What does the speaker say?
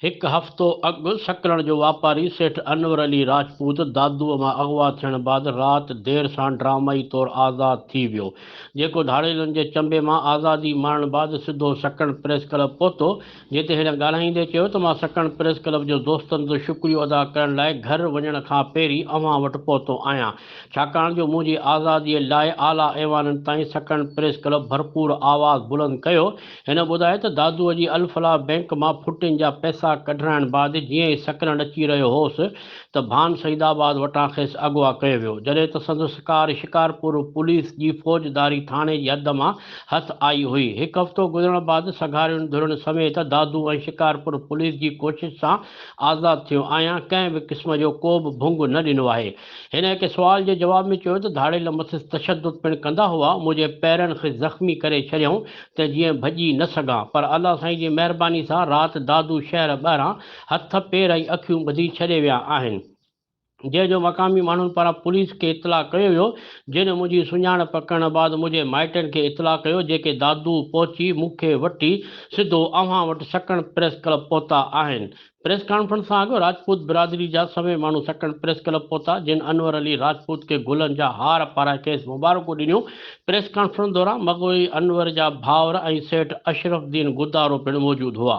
هڪ هفتو اڳ سڪرڻ جو واپاري سيٺ انور علي راجپوت دادوء مان اغوا ٿيڻ بعد رات دير سان ڊرامائي طور آزاد ٿي ويو جيڪو ڌاڙيلن جي چنبي مان آزادي ماڻڻ بعد سڌو سڪرڻ پريس ڪلب پهتو جتي هن ڳالهائيندي چيو ته مان سڪڻ پريس ڪلب جو دوستن جو شڪريو ادا ڪرڻ لاء گهر وڃڻ کان پهرين اوهان وٽ پهتو آهيان ڇاڪاڻ جو منهنجي آزادي لاء اعليٰ ايوانن تائين سڪڻ پريس ڪلب ڀرپور آواز بلند ڪيو هن ٻڌايو ته دادوء جي الفلاح بينڪ مان ڦٽين جا پئسا ڪڍرائڻ بعد جيئن ئي سڪرنڊ اچي رهيو هوس ته ڀان سعيد آباد وٽان کيس اغوا ڪيو ويو، جڏهن ته سندس ڪار شڪارپور پوليس جي فوجداري ٿاڻي جي حد مان هٿ آئي هئي. هڪ هفتو گذرڻ بعد سگهارين ڌرين سميت دادو ۽ شڪارپور پوليس جي ڪوشش سان آزاد ٿيو آهيان، ڪنهن به قسم جو ڪو به ڀنگ نه ڏنو آهي. هن هڪ سوال جي جواب ۾ چيو ته ڌاڙيل مٿس تشدد پڻ ڪندا هئا، منهنجي پيرن کي زخمي ڪري ڇڏيائون ته جيئن ڀڄي نه سگهان، پر الله سائين جي مهرباني سان رات دادو شهر ٻاهران هٿ پير ۽ اکيون ٻڌي ڇڏي ويا آهن جنهن جو مقامي ماڻهن پاران پوليس کي اطلاع ڪيو ويو جن منهنجي سڃاڻپ ڪرڻ بعد منهنجي مائٽن کي اطلاع ڪيو جيڪي دادو پهچي مون کي وٺي سڌو اوهان وٽ سڪڻ پريس ڪلب پهتا آهن پريس ڪانفرنس سان اڳ راجپوت برادري جا سوين ماڻهو سڪڻ پريس ڪلب پهتا جن انور علي راجپوت کي گلن جا هار پارائي کيس مبارڪون ڏنيون پريس ڪانفرنس دوران مغوي انور جا ڀائر ۽ سيٺ اشرف الدين گدارو پڻ موجود هئا.